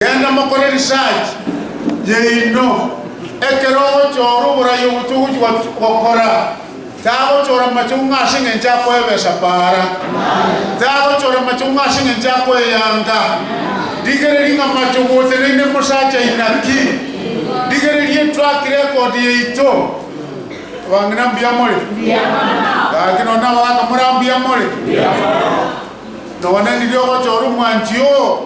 Genda mokore research yaino ekero ogochora oborai ogochia ogochia gokora tagochora macheu ng'a ase engencho akoebesa para tagochora macheu ng'a ase engencho akoeyanga rigereria ng'a macheu goteneine mosacha inaki rigereria etrack record yaito abang'ina mbuya more gaki nonya nabo bakamora mbuya more nonya niria ogochora omwanchi oo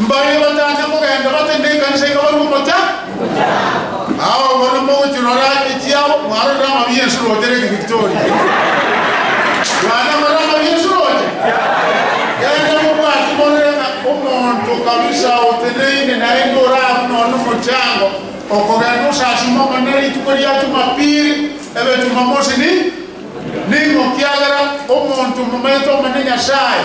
Mbaria bataacha kogenda bate nekanisa iga barue omochando. Ao bono mogochirora ache chiabo mwarorire amabi y'ense roche Lake Victoria. Bwana more amabi y'ense roche. Genda mobwate morore ng'a omonto kabisa oteneine naende orarwe nonya nomochango okogenda osasime Omonene rituko ria Jumapili, ebe Jumamosi ni ning'o kiagera omonto momanyete Omonene Nyasaye.